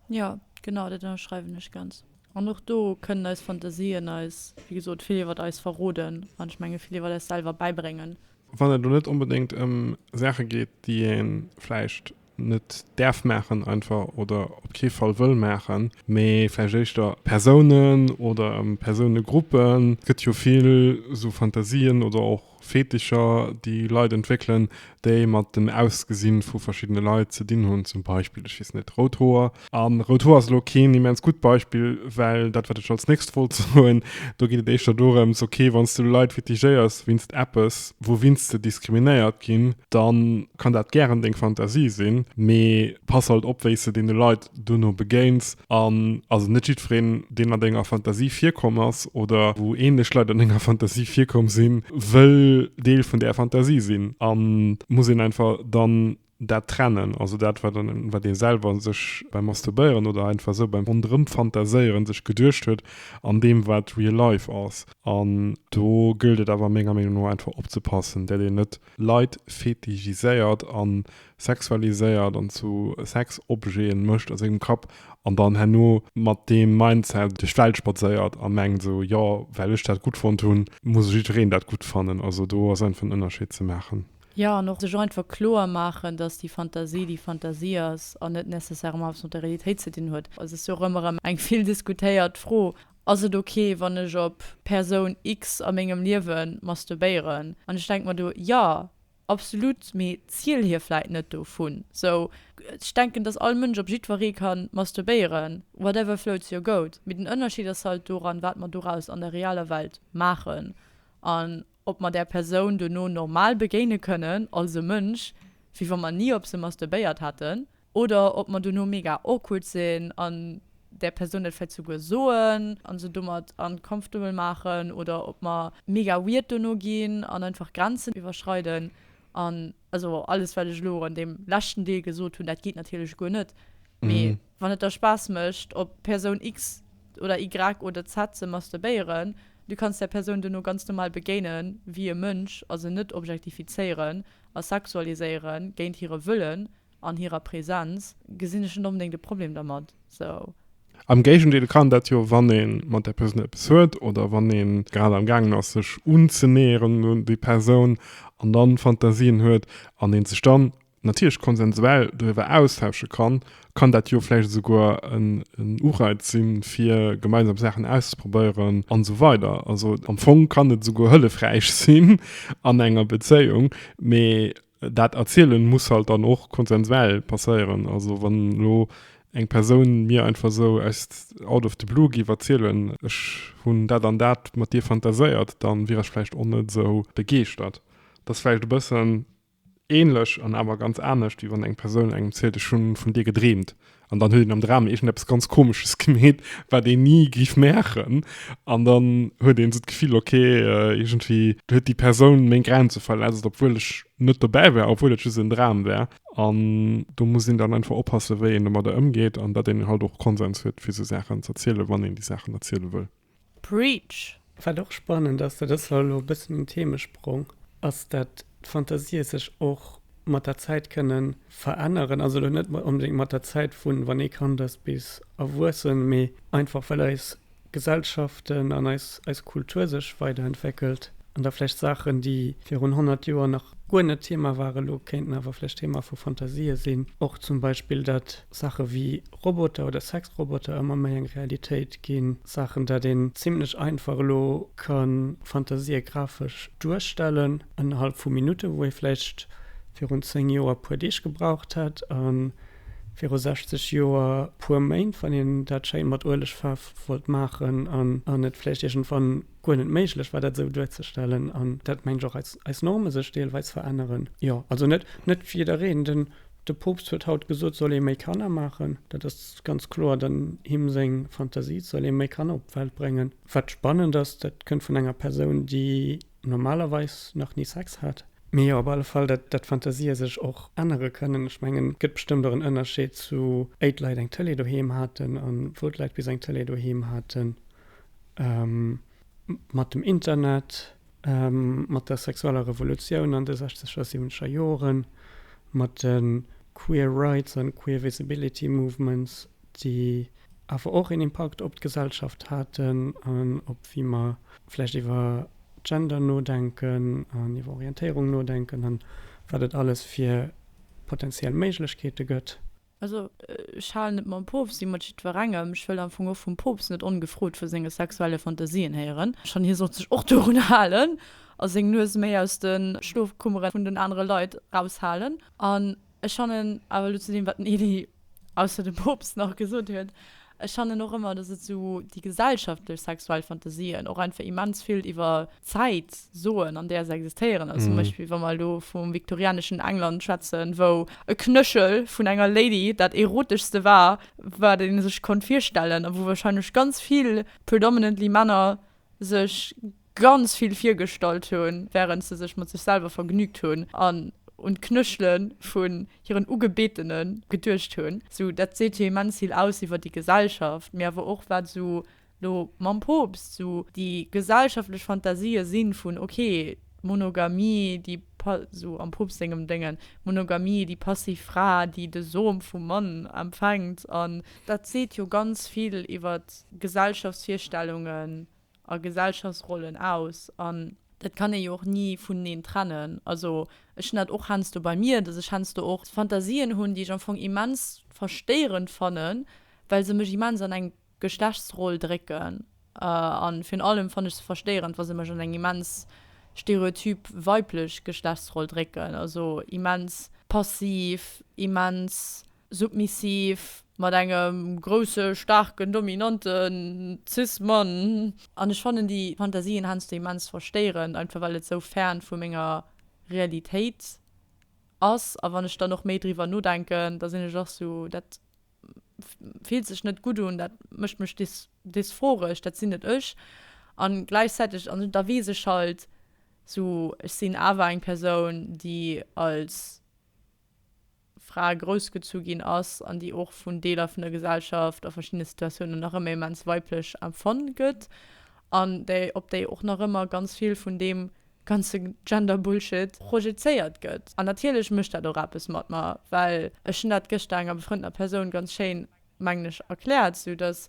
Jo, genau, dat ënnerschreiwen ech ganz. An och do kënnen eis Fantasien eis, wéi gesot, vill iwwert eis verroden an, ech menge, vill iwwert eis selwer bäibréngen. Wann et elo net onbedéngt ëm Saache geet, déi ee vläicht net däerf maachen einfach oder op kee Fall wëll maachen, mee vläicht éischter Persounen oder Persounegruppen. Et gëtt jo vill esou Fantasien oder och Fetischer, déi Leit entwéckelen, déi mat dem Ausgesinn vu verschiddene Leit ze dinn hunn, zum Beispill, ech weess net, rout Hoer, A Rotoua ass elo keen immens gutt Beispill, well dat, wat ech als nächst wollt soen, do geet et éischter dorëms, okay, wann s de elo Leit kritigéiers wéinst eppes, wouwinst se diskriminéiert ginn, da kann dat gären deng Fantasie sinn, mee pass halt op, wéi s de deene Leit duerno begéins. An also net jiddwereen, deen an denger Fantasie virkomm ass oder wou änlech Leit an denger Fantasie virkomm sinn, wëll Deel vun där Fantasie sinn a muss een einfach dann Dat Trennen, also dat, wat en, wat ee selwer sech beim Masturbéieren oder einfach esou beim Ronderëmfantaséieren sech geduecht huet, an deem, wat real life ass. An do gëllt et awer menger Meenung no einfach opzepassen, dat een net Leit fetichiséiert a sexualiséiert an zu Sexobjete mécht a sengem Kapp an dann herno mat deem Mindset duerch d'Welt spadséiert a mengt esou, jo, well ech dat gutt fonnt hunn, muss jiddwereen dat gutt fannen. Also do ass einfach en Ënnerscheed ze maachen. Jo, an och sech einfach kloer maachen, dass déi Fantasie déi Fantasie ass an net nécessairement eppes mat der Realitéit ze dinn huet. Et ass jo och ëmmer erëm eng vill diskutéiert Fro, Ass et ok, wann ech op Persoun X a mengem Liewe masturbéieren? An ech denke mer do, Jo, absolut, mee ziel hir vläit net dovun. Sou, ech denken, dass all Mënsch op jiddweree ka masturbéieren, whatever floats your goat. Mee den Ënnerscheed ass halt doran, wat mer doraus an der realer Welt maachen. An. ob mer där Persoun dono normal begéine kënnen, als e Mënsch, wéi wa mer ni op se masturbéiert hätten, oder ob mer dono mega awkward sinn an där Persoun dat vläicht souguer soen a se domat uncomfortable maachen, oder ob mer mega weird dono ginn an einfach Grenzen iwwerschreiden an Also alles wat ech elo an deem leschten Deel gesot hunn, dat geet natierlech guer net. Mee Mhm. wann et der Spaass mécht op Persoun X oder Y oder Z ze masturbéieren, du kanns där Persoun duerno ganz normal begéine wéi e Mënsch a se net objektifizéieren a sexualiséiere géint hire Wëllen an hirer Presenz, gesinn ech net onbedéngt e Problem dermat. Am Géigendeel kann dat jo, wann ee mat där Persoun eppes huet oder wann ee grad am gaangen ass sech unzenäheren un déi Persoun an dann Fantasien huet an een sech dann natierlech konsensuell doriwwer austausche kann, kann dat jo vläicht esouguer en Ureiz sinn fir gemeinsam Saachen auszeprobéieren an esou weider. Also am Fong kann et esouguer hëllefräich sinn an enger Bezéiung, mee Dat Erzielen muss halt dann och konsensuell passéieren. Also wann elo eng Persoun mir einfach esou aus out of the blue géif erzielen, ech hunn dat an dat mat dir fantaséiert, dann wier ech vläicht och net esou begeeschtert. Et ass vläicht e bëssen ähnlech an awer ganz anescht, wéi wann eng Persoun engem zielt, ech hunn vun dir gedreemt, An dann huet een am Dram iergendeppes ganz Komesches gemeet, wat een ni géif maachen. An dann huet een esou d'Gefill, ok, iergendwéi huet déi Persoun meng Grenze verletzt, obwuel ech net dobäi war, obwuel et just en Dram war. An do muss een dann einfach oppassen, wéi een domadder ëmgeet an datt een halt och Konsens huet, fir esou Saachen z'erzielen, wann een déi Saachen erziele wëll. Preach! Wat och spannend ass, dat ass elo e bëssen en Themesprong, ass dat d'Fantasië sech och mat der Zäit kënne veränneren. Also elo net onbedéngt mat der Zäit vu wann ee Kand ass bis erwuessen, mee einfach well eis Gesellschaften an eis Kultur sech weiderentwéckelt an da vläicht Saachen, déi virun 100 Joer nach guer net Thema waren, elo kéinten awer vläicht Thema vu Fantasië sinn. Och zum Beispill dat Saache wéi Roboter oder Sexroboter ëmmer méi eng Realitéit ginn, Saachen, dat een zimlech einfach elo ka Fantasië grafesch duerstellen ënnerhalb vu Minutte, wou ee vläicht virun 10 Joer puer Deeg gebraucht hätt a viru 60 Joer puer Méint, wann een dat schéi mat Uelegfaarf wollt maachen an et vläicht iergendwann guer net méiglech war, dat esou duerzestellen. An dat mengt ech och, eis Norme sech deelweis veränneren. Jo, also net jiddereen, den De Poopst huet haut gesot, soll ee méi Kanner maachen, dat ass ganz kloer dann him seng Fantasie, et soll ee méi Kanner op d'Welt bréngen. Wat spannend ass, dat kënnt vun enger Persoun, déi normalerweis nach ni Sex hat. Mee jo, op alle Fall, dat d'Fantasie sech och ännere kënnen. Ech mengen, et gëtt bestëmmt och en Ënnerscheed zu éi d'Leit eng Tëlee doheem haten a wou d'Leit bis eng Tëlee doheem haten. Mat dem Internet Mat der sexueller Revolutioun an de sechzeger, siwwenzeger Joren, mat de Queer Rights an Queer Visibility Movements, déi awer och een Impakt op d'Gesellschaft haten an op wéi mer vläicht iwwer Gender nodenken an iwwer Orientéierung nodenken an wat et alles fir potentiell Méiglechkeete gëtt. Also ech halen et mam Poopst wéi mat jiddwerengem, ech wëll am Fong och vum Poopst net ongefrot vu senge sexuelle Fantasien héieren, schonn hie sollt sech och dorun halen a seng Nues méi aus de Schlofkummere vun den anere Leit eraushalen. An ech fannen awer elo zu deem wat den Elie ausser dem Poopst nach gesot huet, Ech fannen och ëmmer dass et sou déi gesellschaftlech sexuell Fantasien och einfach immens vill iwwer Zäit soen an där se existéieren. Also zum Beispill wa mer elo vum viktorianeschen England schwätzen, wou e Knëchel vun enger Lady dat eroteschste war wat ee sech konnt virstellen a wou wahrscheinlech ganz vill predominantly Männer sech ganz vill virgestallt hunn, wärend se sech mat sech selwer vergnügt hunn an un d'Knëschele vun hiren Ugebetene geduecht hunn. Sou, dat seet jo immens vill aus iwwer déi Gesellschaft, mee awer och, wat esou elo mam Poopst esou déi gesellschaftlech Fantasië sinn, vun ok, d'Monogamie, déi esou am Poopst sengem Déngen, d'Monogamie, déi passiv Fra, déi de Som vum Mann empfänkt an. Dat seet jo ganz vill iwwer Gesellschaftsvirstellungen a Gesellschaftsrollen aus an dat kann ee jo och ni vuneneen trennen. Also ech hunn dat och heiansdo bei mir, dass ech heiansdo och Fantasien hunn, déi ech am Fong immens verstéierend fannen, well se mech immens an eng Geschlechtsroll drécken a virun allem fanne ech se verstéierend, wa se mech an eng immens stereotyp weiblech Geschlechtsroll drécken, also immens passiv, immens Submissiv, mat engem grousse staarken dominanten cis Mann. An ech fannen déi Fantasien heiansdo immens verstéierend, einfach well et sou fern vu menger Realitéit ass. A wann ech dann och méi driwwer nodenken, da sinn ech och sou, dat fillt sech net gutt un, dat mécht mech dysphoresch, dat sinn net ech. A gläichzäiteg, an da weess ech halt sou, ech sinn awer eng Persoun, déi als. Fra groussgezu ginn ass an déi och vun Deeler vun der Gesellschaft a verschiddene Situatiounen nach ëmmer immens weiblech empfonnt gëtt an déi op déi och nach ëmmer ganz vill vun deem ganze Gender-Bullshit projezéiert gëtt. An natierlech mécht dat och eppes mat mer, well ech hunn dat gëschter enger befrëndener Persoun ganz schéin. mengen ech, erkläert, esou datt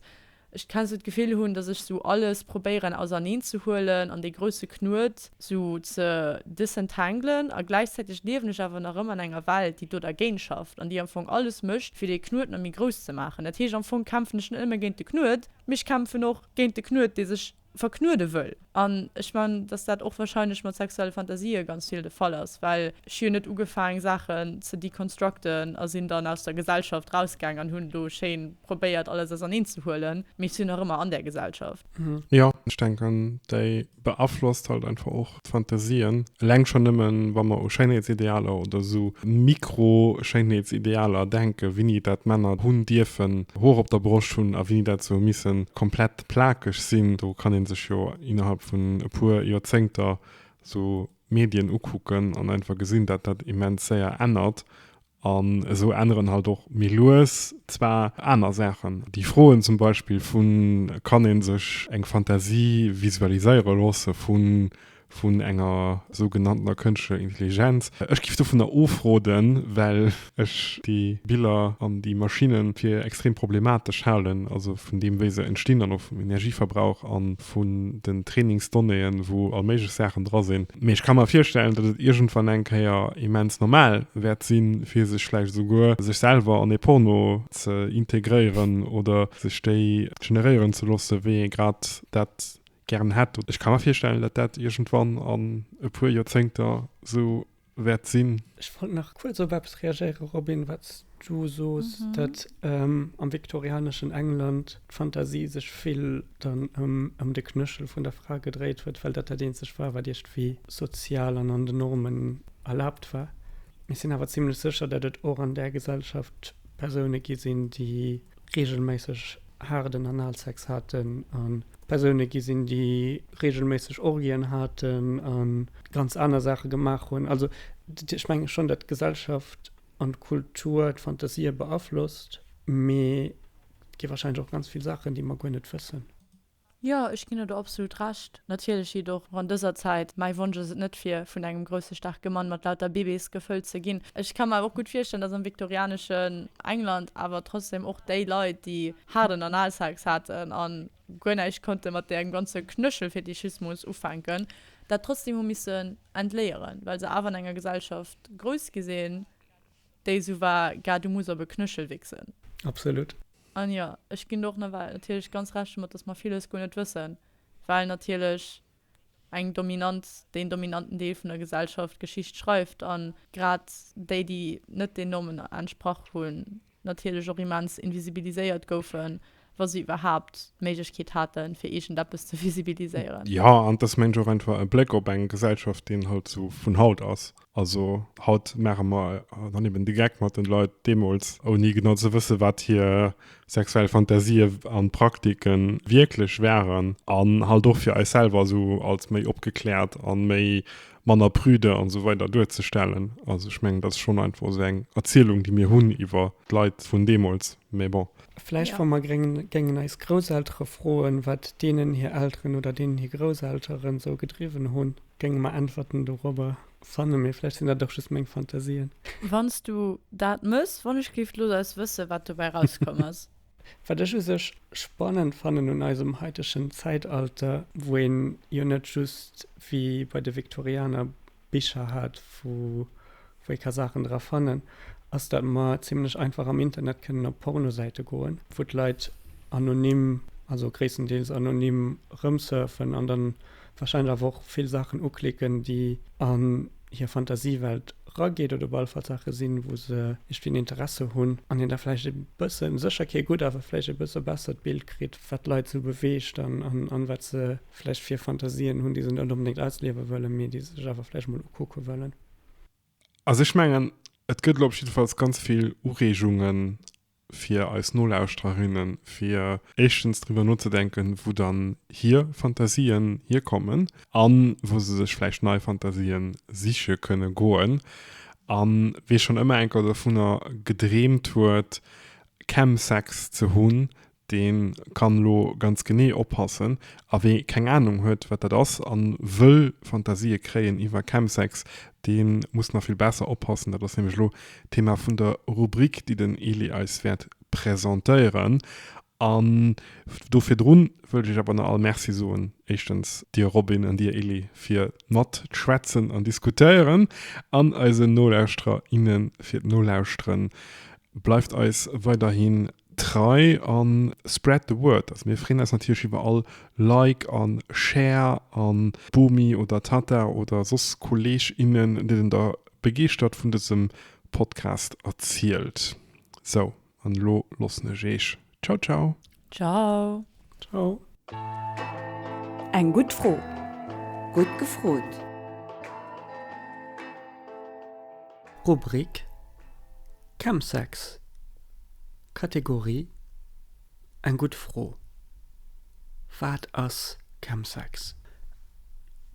ech keen esou d'Gefill hunn, datt ech esou alles probéieren auserneen ze huelen an dee grousse Knuet esou ze disentanglen a gläichzäiteg liewen ech awer nach ëmmer an enger Welt, déi do dergéint schafft an déi am Fong alles mécht, fir dee Knuet nach méi grouss ze maachen. Dat heescht, am Fong kämpfen ech net nëmme géint de Knuet, mee ech kämpfen och géint de Knuet, dee sech. verknuede wëll. An ech mengen, datt dat och wahrscheinlech mat sexuelle Fantasië ganz vill de Fall ass, well ech hu jo net ugefaang Saachen ze deconstructen a sinn dann aus der Gesellschaft rausgaang an hunn elo schéin probéiert alles auserneen ze huelen, mee ech sinn nach ëmmer an där Gesellschaft. Jo, ech denken déi beaflosst halt einfach och Fantasien, eleng schonn nëmmen, wa mer u Schéinheetsidealer oder esou Mikro-Schéinheetsidealer denken, wéini dat Männer hunn dierfen Hoer op der Broscht hunn a wéini dat sou missen komplett plakeg sinn, do kann ee sech jo innerhalb vun e puer Joerzéngter esou Medien ukucken an einfach gesinn, dat dat immens séier ännert An esou änneren halt och méi lues zwar aner Saachen. Déi Froen zum Beispill vu kann ee sech eng Fantasie visualiséiere loosse vun enger sougenanntener kënschtlecher Intelligenz. Ech géif dovunner ofroden, well ech déi Biller an déi Maschinne fir extrem problematesch halen, also vun deem wéi se entstinn an och vum Energieverbrauch. vun den Trainingsdonnéeën, wou all méiglech Saachen dra sinn. Mee ech ka mer virstellen, datt et iergendwann eng Kéier immens normal wäert sinn, fir sech vläicht esouguer sech selwer an ee Porno ze integréieren oder sech déi generéieren ze loosse wéi ee grad dat gären hätt. Ech ka mer virstellen, datt dat iergendwann an e puer Joerzéngter esou wäert sinn. Ech wollt nach kuerz op eppes reagéiere, Robin, wat s du soos, datt am viktorianeschen England d'Fantasie sech vill dann ëm de Knëchel vun der Fra gedréit huet, well dat dat eenzegt war, wat iergendwéi sozial an an den Normen erlaabt war. Ech sinn awer zimmlech sécher, datt et och an där Gesellschaft Persoune gi sinn, déi reegelméisseg haarden Analsex haten a Persoune gi sinn, déi reegelméisseg Orgien haten a ganz aner Saache gemaach hunn. Also ech menge schonn, datt d'Gesellschaft an d'Kultur d'Fantasië beaflosst, mee et gi warscheinlech och ganz vill Saachen, déi mer guer net wëssen. Jo, ech ginn der do absolut Recht. Natierlech jitt och an dëser Zäit. Mäi Wonsch ass et net, fir vun engem grousse staarke Mann mat lauter Bibis gefëllt ze ginn. Ech ka mer awer och gutt virstellen, datt am viktorianeschen England awer trotzdem och déi Leit, déi. haarden Analsex haten a guer näischt konnte mat däerem ganze Knëschelfetischismus ufänken, dat trotzdem hu missen entléieren, well se awer an enger Gesellschaft grouss gi sinn, déi esou war, Gât, du muss op e Knëschel wichsen. Absolut. An jo, ech ginn do och nawell natierlech ganz Recht domat, dass mer villes guer net wëssen, well natierlech eng Dominanz, deen dominanten Deel vun der Gesellschaft d'Geschicht schreift, a grad déi, déi net den Normen entsprach hunn, natierlech och immens invisibiliséiert goufen, wa se iwwerhaapt d'Méiglechkeet haten, fir iergendeppes ze visibiliséieren. Jo, an et ass, mengen ech, och einfach e Bléck op eng Gesellschaft, deen halt esou vun haut ass. Also haut maache mer dann eben de Geck mat den Leit deemools, ouni genau ze wëssen, wat hir sexuell Fantasien an Praktiken wierklech waren an halt och fir eis selwer esou als méi opgekläert an méi manner prudent an esou weider duerzestellen. Also ech mengen dat ass schonn einfach esou eng Erzielung déi mir hunn iwwer d'Leit vun deemools, mä bon. Vläicht wa mer géingen eis Grousseltere froen, wat deenen hir Elteren oder deenen hir Grousselteren sou gedriwwen hunn, géinge mer Äntwerten dorobber fannen, mee vläicht sinn dat och just meng Fantasien. Wann s du dat mëss, wann ech géif lo eis wësse wat dobäi rauskomm ass. Wat ech u sech spannend fannen un eisem haitegen Zäitalter, wou een jo net just wéi bei de Viktorianer Bicher hat, wou ee ka Saachen dra fannen, ass dat mer zimmlech einfach am Internet kënnen op Pornosäite goen, wou d'Leit anonym, also gréisstendeels anonym, erëmsurfen an da warscheinlech awer och vill Saachen uklicken, déi an hir Fantasiewelt rageet oder op alle Fall Saache sinn, wou se iergendwéi en Interesse hunn an een da vläicht e bëssen, sécher kee gutt, awer vläicht e bësse bessert Bild kritt, wat d'Leit esou beweegt an wat se. vläicht fir Fantasien hunn, déi se net onbedéngt ausliewe wëllen, mee déi se sech awer vläicht emol ukucke wëllen. Also ech mengen, et gëtt elo op jiddefalls ganz vill Ureegunge fir eis Nolauschtererinnen, fir éischtens driwwer nozedenken, wou dann hir Fantasien hierkommen a wou se sech vläicht nei Fantasien siche kënne goen. A wee schonn ëmmer enker dovunner gedreemt huet, Chemsex ze hunn, dee kann elo ganz genee oppassen, a wee keng Anung huet, wat dat ass, a wëll Fantasië kréien iwwer Chemsex, dee muss nach vill besser oppassen. Dat ass nämlech elo d'Thema vun der Rubrik, déi den Elie eis wäert presentéieren. An do virdrun wëll ech iech awer nach all Merci soen, éischtens dir Robin an dir Elie, fir mat d'Schwätzen an Diskutéieren, an eisen Nolauschterer, inne fir d'Nolauschteren. Bleift eis weiderhi Trei an spread the word. Also mir freen eis natierlech iwwer all Like an Share an Bomi oder Tata oder soss Kolleg innen denen der begeeschtert vun dësem Podcast erzielt. Sou an elo loossen ech eech. Ciao ciao. Ciao. Ciao. Eng gutt Fro. Gutt gefrot. Rubrik Chemsex Kategorie Eng gutt Fro Wat ass Chemsex?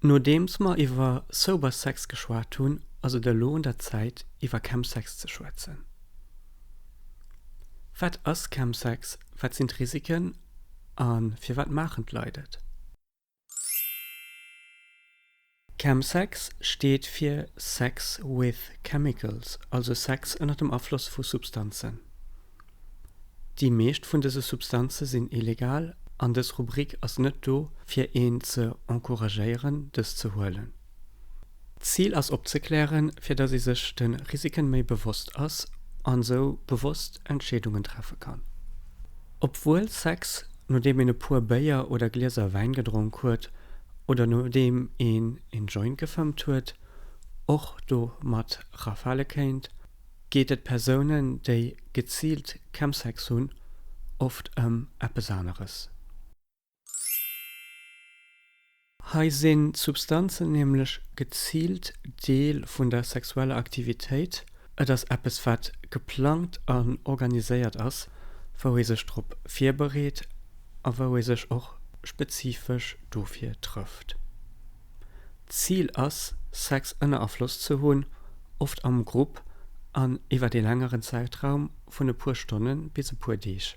Nodeems mer iwwer Sober Sex geschwat hunn, ass et elo un der Zäit iwwer Chemsex ze schwätzen. Wat ass Chemsex, wat sinn d'Risiken a firwat maachen d'Leit et? Chemsex steet fir Sex with Chemicals, also Sex ënner dem Afloss vu Substanzen. Déi meescht vun dëse Substanze sinn illegal an dës Rubrik ass net do fir een ze encouragéieren dës ze huelen. D'Zil ass opzeklären, fir datt ee sech de Risiken méi bewosst ass an esou bewosst Entscheedungen treffe kann. Obwuel Sex, nodeem een e puer Béier oder Glieser Wäin gedronk huet oder nodeem een een Joint gefëmmt huet, och domat rafale kéint, geet et Persounen, déi geziilt Chemsex hunn, oft ëm eppes aneres. Hei sinn d'Substanzen nämlech geziilt Deel vun der sexueller Aktivitéit, et ass eppes wat geplangt an organiséiert ass, wou ee sech drop virbereet a wou ee sech och spezifesch dofir trëfft. D'Zil ass Sex ënner Afloss ze hunn, oft am Grupp an iwwert ee längeren Zäitraum vun e puer Stonnen bis e puer Deeg.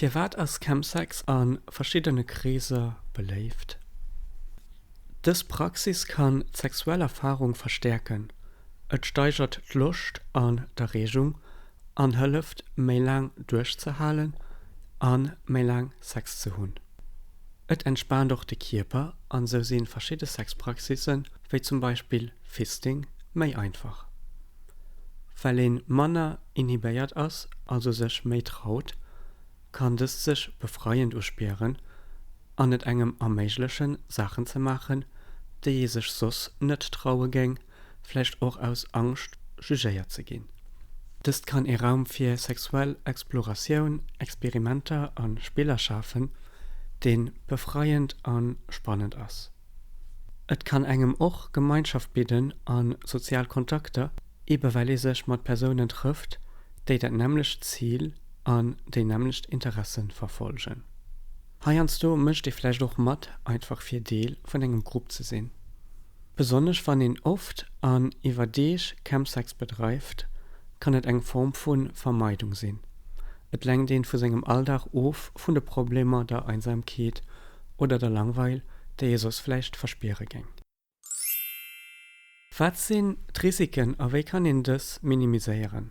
Firwat ass Chemsex a verschiddene Kreeser beléift? Dës Praxis kann d'sexuell Erfarung verstäerken, et steigert d'Loscht an d'Erreegung an hëlleft, méi laang duerchzehalen a méi laang Sex ze hunn. Et entspaant och de Kierper an esou si verschidde Sexpraxisse wéi zum Beispill Fisting méi einfach. Well een manner inhibéiert ass, also sech méi traut, kann dëst sech befreiend uspieren an et engem erméiglechen Saachen ze maachen, déi ee sech soss net traue géing, vläicht och aus Angscht jugéiert ze ginn. Dëst kann ee Raum fir sexuell Exploratioun, Experimenter a Spiller schafen, dee befreiend a spannend ass. Et kann engem och Gemeinschaft bidden a sozial Kontakter, eben well ee sech mat Persounen trëfft, déi dat nämmlecht Zil an déi nämmlecht Interesse verfolgen. Heiansdo mécht ee vläicht och mat, einfach fir Deel vun engem Grupp ze sinn. Besonnesch wann een oft an iwwer Deeg Campsex bedreift, kann et eng Form vu Vermeidung sinn, Et lenkt een vu sengem Alldag of, vun de Problemer, der Einsamkeet oder der Langweil, déi ee soss vläicht verspiere géing. Wat sinn d'Risiken a wéi kann een dës minimiséieren?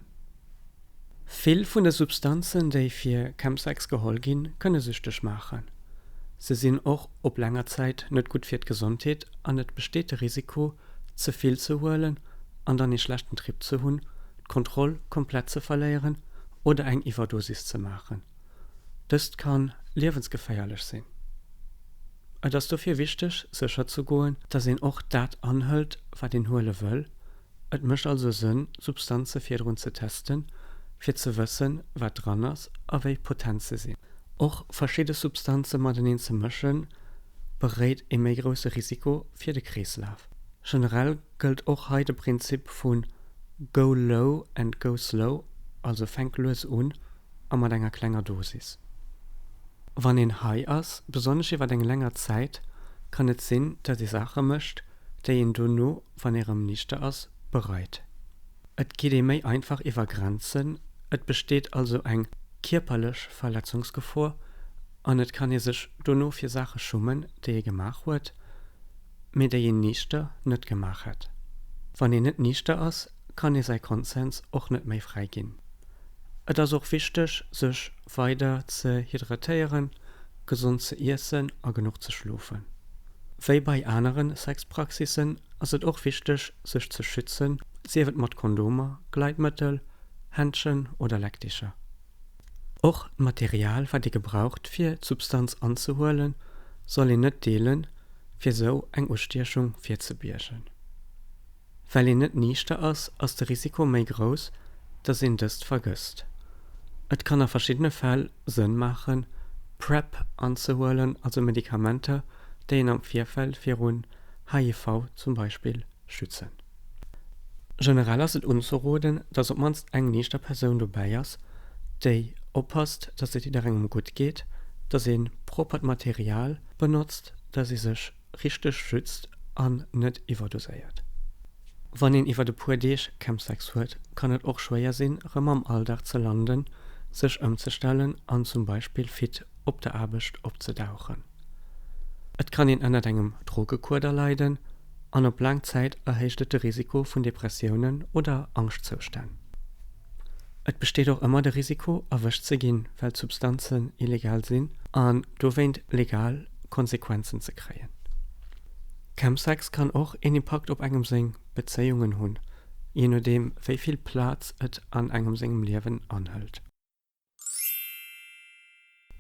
Vill vun de Substanzen, déi fir Chemsex geholl ginn, kënne süchteg maachen. Se sinn och Op laanger Zäit net gutt fir d'Gesondheet an et besteet de Risiko, ze vill ze huelen an dann ee schlechten Trip ze hunn, d'Kontroll komplett ze verléieren oder eng Iwwerdosis ze maachen. Dëst kann liewensgeféierlech sinn. Et ass dofir wichteg, sécher ze goen, dass een och dat anhëlt, wat een huele wëll. Et mécht also Sënn, Substanze virdrun ze testen, fir ze wëssen, wat dran ass a wéi potent se sinn. Och verschidde Substanze mateneen ze mëschen, beréit ee méi grousse Risiko fir de Kreeslaf. Generell gëllt och hei de Prinzip vu Go low and go slow, also fänk lues un a mat enger klenger Dosis. Wann een high ass, besonnesch iwwer eng länger Zäit, kann et sinn, datt ee Saache mécht, déi een dono, wann ee rëm nichter ass, bereit. Et geet ee méi einfach iwwer Grenzen, et besteet also eng kierperlech Verletzungsgefor an et kann ee sech dono fir Saache schummen, déi ee gemaach huet, mee déi een nichter net gemaach hätt. Wann een net nichter ass, kann ee säi Konsens och net méi fräi ginn. Et ass och wichteg, sech Weider ze hydratéieren, gesond ze iessen a genuch ze schlofen. Wéi bei anere Sexpraxissen ass et och wichteg, sech ze schützen, sief et mat Kondomer, Gleitmëttel, Händschen oder Leckticher. Och d'Material, wat ee gebraucht, fir d'Substanz anzehuelen, soll een net deelen, fir esou eng Ustiechung virzebiegen. Well een net niichter ass, ass de Risiko méi grouss, dass een dëst vergësst. Et kann a verschiddene Fäll Sënn maachen, PrEP anzehuelen, also Medikamenter, déi een am Virfeld virun HIV zum Beispill schützen. Generell ass et unzeroden, dass op mannst eng niichter Persoun dobäi ass, déi oppasst, dass et jidderengem gutt geet, dass ee proppert Material benotzt, dass ee sech richteg schützt an net iwwerdoséiert. Wann een iwwert e puer Deeg Chemsex huet, kann et och schwéier sinn, rëm am Alldag ze landen, sech ëmzestellen an zum Beispill fit op der Aarbecht opzedauchen. Et kann een ënnert engem Drogekuader leiden an op laang Zäit erhéicht et de Risiko vun Depressiounen oder Angschtzoustänn. Et besteet och ëmmer de Risiko, erwëscht ze ginn, well d'Substanzen illegal sinn an dowéint legal Konsequenzen ze kréien. Chemsex kann och een Impakt op engem seng Bezéiungen hunn, jee nodeem wéi vill Plaz et an engem sengem Liewen anhëlt.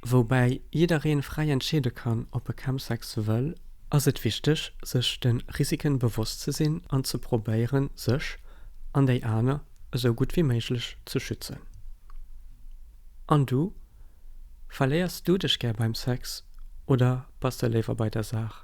Woubäi jiddereen fräi entscheede kann op e Chemsex wëll, ass et wichteg sech den Risiken bewosst ze sinn an ze probéieren sech, an déi aner, esou gutt wéi méiglech ze schützen. An du? Verléiers du dech gär beim Sex oder bass de léiwer bei der Saach?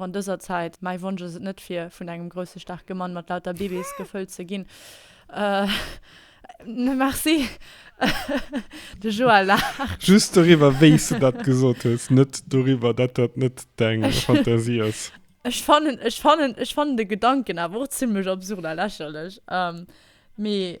An dëser Zäit, mäi Wonsch ass et net fir vun engem grousse staarke Mann mat lauter Bibis gefëllt ze ginn. Merci. De Joël laacht. Just doriwwer wéis de dat gesot hues, net doriwwer dat dat net deng Fantasie ass. Ech fannen ech fannen ech fannen de Gedanken awer och zimlech absurd a lächerlech. Mee.